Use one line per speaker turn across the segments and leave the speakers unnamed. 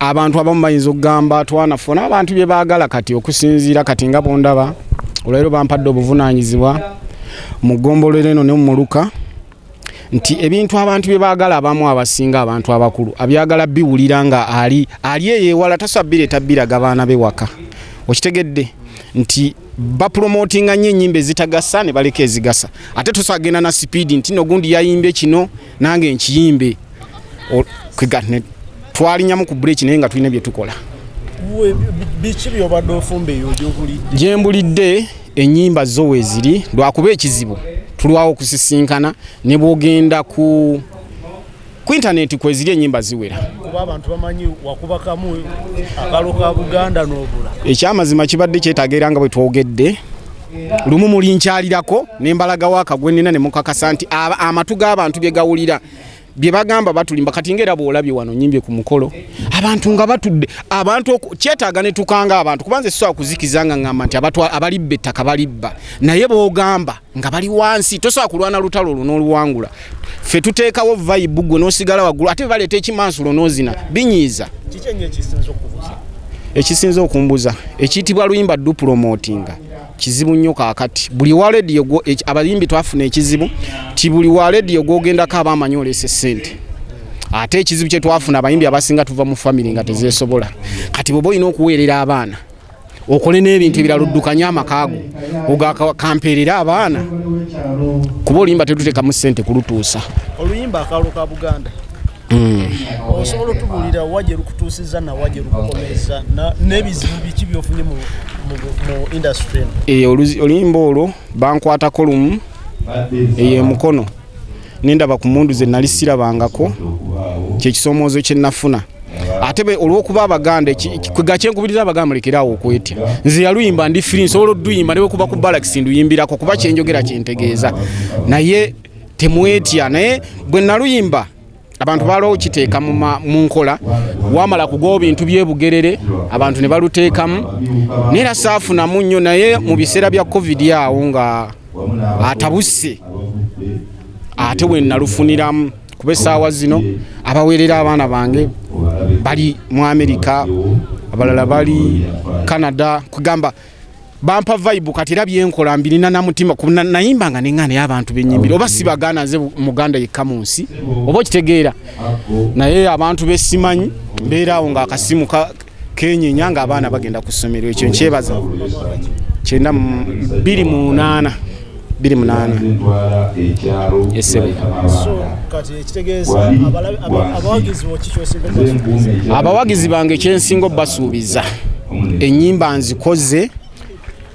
abantu abamu bayinza okugamba twanafuna abantu bye baagala kati okusinziira kati nga bondaba olwaliro bampadde obuvunaanyizibwa mu ggombolola eno ne mu muluka nti ebintu abantu bye baagala abamu abasinga abantu abakulu abyagala biwulira nga ali ali eyewala tasabire tabiraga baana be waka okitegedde nti bapromotinga nnyo ennyimba ezitagasa ne baleka ezigasa ate tusagenda na sipiidi nti nogundi yayimbye kino nange nkiyimbe twalinyamu ku breeki naye nga tulina bye tukola
biki byobadde ofumba eyo gyokulidde gyembulidde
enyimba zo weziri lwakuba ekizibu tulwawo okusisinkana ne bwogenda ku ku intaneti kweziri enyimba ziwera
ekyamazima kibadde
kyetaga era nga bwe twogedde lumu mulinkyalirako nembalagawo akagwenina ne mukakasa nti amatu g'abantu bye gawulira bye bagamba batulimba kati nga era bwolabye wano nyimbye ku mukolo abantu nga batudde abantu kyetaaga ne tukanga abantu kubanza esisobola kuzikiza nga ngamba nti abalibba ettaka balibba naye bogamba nga bali wansi tosobola kulwana lutalo olwo n'oluwangula ffe tuteekawo vayibu gwe n'osigala waggulu ate bebaleeta ekimansulo n'ozina binyiiza ekisinza okumbuza ekiyitibwa luyimba dupulomotinga kizibu nnyo kakati buli wa lediyo abayimbi twafuna ekizibu ti buli wa lediyo gwogendako aba amanyi oleese sente ate ekizibu kyetwafuna abayimbi abasinga tuva mu famiry nga tezesobola kati bwoba olina okuweerera abaana okole n'ebintu ebirala oddukanye amakaago ogakampeerera abaana kuba oluyimba tetutekamu sente kulutuusa oluyimba akaalo
ka buganda Hmm. osobola otubulira wa gye lukutuusizza nawa gye lukukomeza n'ebizibu biki byofunye mu industry eh,
oluyimba olwo bankwatako lumu eyo emukono nendaba ku mundu ze nali sirabangako kyekisomoozo kye nafuna ate olwokuba abaganda gakyenkubiriza abaganda mulekeraawo okwetya nze yaluyimba ndi firi nsobola oduyimba newekuba ku balakisi nduyimbirako kuba kyenjogera kyentegeeza naye temwetya naye bwe naluyimba abantu baalwa okiteeka mu nkola wamala kugawo bintu byebugerere abantu ne baluteekamu naye era saafunamu nnyo naye mu biseera bya covid awo nga atabuse ate we nalufuniramu kuba essaawa zino abaweerera abaana bange bali mu amerika abalala bali canada kugamba bampa vibe kati era byenkola mbirina na mutima nayimba nga nenga naye abantu benyimbira oba si baganda nze muganda yekka mu nsi oba okitegeera naye abantu besimanyi mbeera awo nga akasimu kenyenya nga abaana bagenda ku ssomero ekyo nkyebaza kyenda biri mu munaana
biri munaana
abawagizi bange kyensinga obasuubiza enyimba nzikoze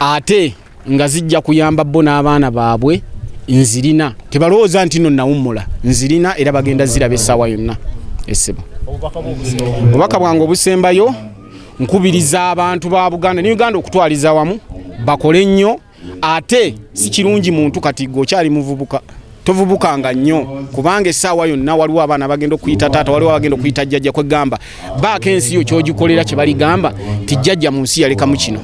ate nga zijja kuyamba bo n'abaana baabwe nzirina tebalowooza nti no nawummula nzirina era bagenda ziraba essaawa yonna esiba obubaka bwange obusembayo nkubiriza abantu ba buganda ne uganda okutwaliza wamu bakole nnyo ate si kirungi muntu kati gwe okyali muvubuka tovubukanga nnyo kubanga essaawa yonna waliwo abaana bagenda okuyita taata waliwo abagenda okuyita jjajja kwegamba baako ensi yo kyogikolera kye baligamba ti jjajja mu nsi yalekamu kino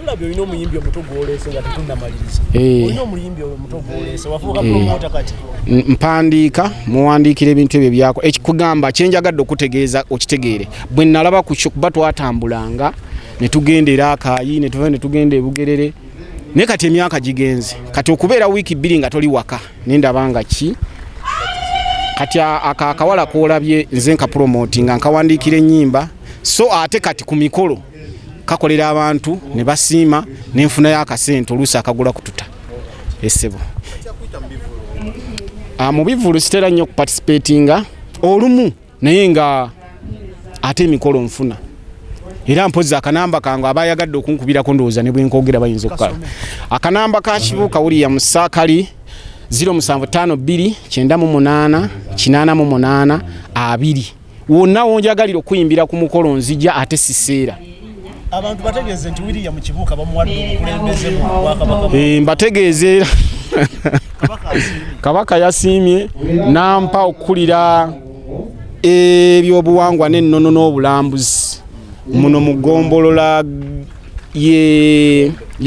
tulabye olina omuyimbi
omuto gwoleese nga tetunnamaliriza eh. olina omuyimbi omuto gwoleese wafuuka eh. promota kati mpandiika
muwandiikira ebintu ebyo byako ekikugamba kyenjagadde okutegeeza okitegeere bwe nalaba kuba twatambulanga netugenda era akaayi netuva netugenda ebugerere naye kati emyaka gigenze kati okubeera wiiki bbiri nga toli waka nendaba nga ki kati ako akawala kolabye nze nkapromoti nga nkawandiikira ennyimba so ate kati ku mikolo kakolera abantu ne basiima nenfunayo akasente oluusi akagula kututa esebo ah, mu bivulu sitera nnyo okuparticipatinga olumu naye nga ate emikolo nfuna era mpozi akanamba kange aba ayagadde okunkubirako ndowooza ne bwenkogera bayinza okukala akanamba ka kibuuka wuliya musaakali 07529888 wonna wonjagalira okuyimbira ku mukolo nzija ate siseera abantu
bategeeze nti william kibuuka bamuwadde obukulembeze mu bwakabaka eh, mbategeeze era
kabaka yasiimye nampa okukulira ebyobuwangwa n'ennono n'obulambuzi muno mu ggombolola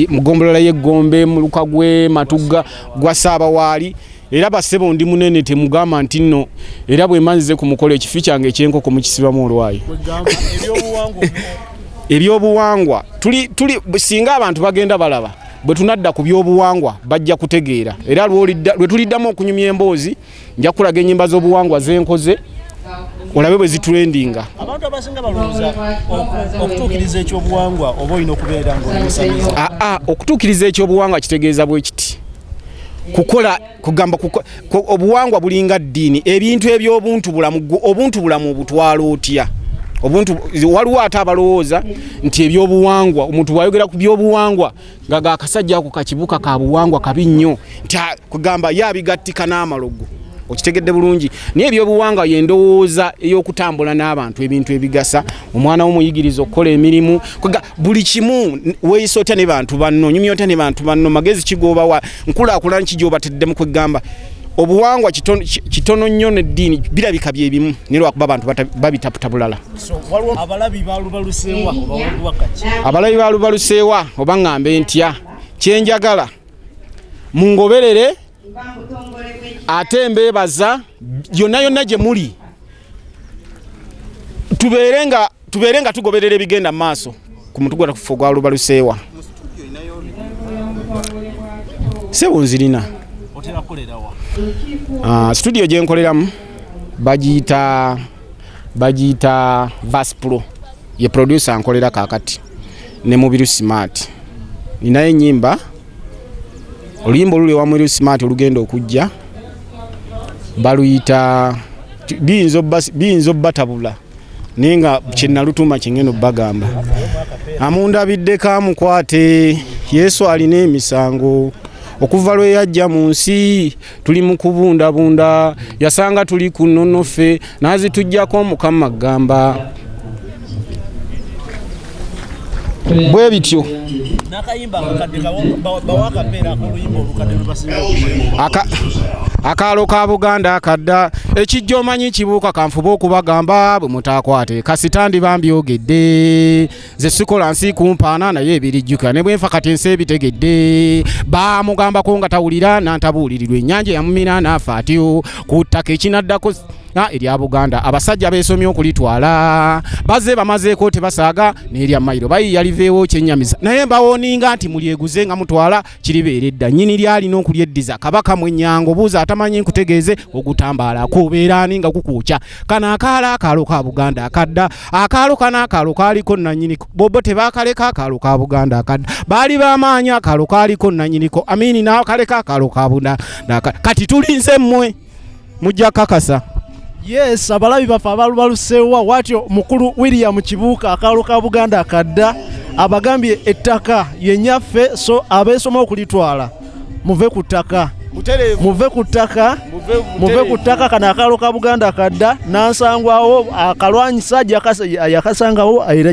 mu ggombolola y'eggombe mu luka gwe matugga gwa saabawaali era basebo ndi munene temugamba nti nno era bwe manzize ku mukolo ekifi kyange ekyenkoko mukisibamu olwayi ebyobuwangwa tuli tuli singa abantu bagenda balaba bwe tunadda ku byobuwangwa bajja kutegeera era lwe tuliddamu okunyumya emboozi nja kukulaga ennyimba z'obuwangwa zenkoze olabe bwe zitrendinga abantu abasinga
balowooza okutuukiriza ekyobuwangwa oba olina okubeera ngaomusamizi aa okutuukiriza
ekyobuwangwa kitegeeza bwe kiti kukola kugamba obuwangwa bulinga ddiini ebintu ebyobuntu bulamu obuntu bulamu obutwala otya obuntu waliwo ate abalowooza nti ebyobuwangwa omuntu wayogera ku byobuwangwa nga gakasajja ako kakibuka ka buwangwa kabi nnyo nti kugamba ye abigattika n'amalogo okitegedde bulungi naye ebyobuwangwa yendowooza ey'okutambula n'abantu ebintu ebigasa omwana womuyigiriza okukola emirimu buli kimu weyisa otya ne bantu banno onyumya otya ne bantu banno magezi kigoobawa nkulaakulana kigyobateddemu kweggamba obuwangwa kitono nnyo neddiini birabika byebimu nilwakuba abantu babitaputa bulala abalabi balubaluseewa oba ŋambe ntya kyenjagala mungoberere ate mbeebaza yonna yonna gye muli tubeere nga tubeere nga tugoberera ebigenda mu maaso ku mutu gwa kufa ogwa lubaluseewa sebo nzirina ah, situdiyo gye nkoleramu bagiyita bagiyita vaspro ye producer nkolera kakati ne mubiru smart ninayo enyimba oluyimba oluli ewamweri smart olugenda okujja baluyita biyinza obbatabula naye nga kyenalutuma kyengeno bagamba amundabidde kamukwate yesu alina emisango okuva lwe yajja mu nsi tuli mu kubundabunda yasanga tuli ku nnono ffe n'azituggyako omukama agamba bwe bityo akaalo ka buganda akadda ekijja omanyi kibuuka kanfuba okubagamba bwe mutaakwate kasitandi bambyogedde nze sikola nsi kumpaana naye ebirijjuka ne bwenfa kati ensi ebitegedde baamugambako nga tawulira nantabuulirirwa ennyanja yamumira naafa atyo ku ttaka ekinaddako erya buganda abasajja beesomye okulitwala baze bamazeeko tebasaaga n'erya mayiro bayiya liveewo kyennyamiza naye mbawoninga nti mulyeguze nga mutwala kiribeera edda nyini lyalina okulyeddiza kabaka mwenyango buuza atamanyi nkutegeeze ogutambaala kubeera ani nga kukuukya kano akaalo akaalo ka buganda akadda akaalo kano akaalo kaaliko nanyiniko bobo tebakaleka akaalo ka buganda akadda baali bamaanyi akaalo kaaliko nanyiniko amini nakaleka akaalo ka buganda kati tulinze mmwe mujja kakasa yes
abalabi baffe abalubaluseewa watyo mukulu william kibuuka akaalo ka buganda akadda abagambye ettaka yenyaffe so abeesoma okulitwala muve ku ttaka muve ku ttaka muve ku ttaka kano akaalo ka buganda akadda nansangwawo akalwanyisa yakasangawo era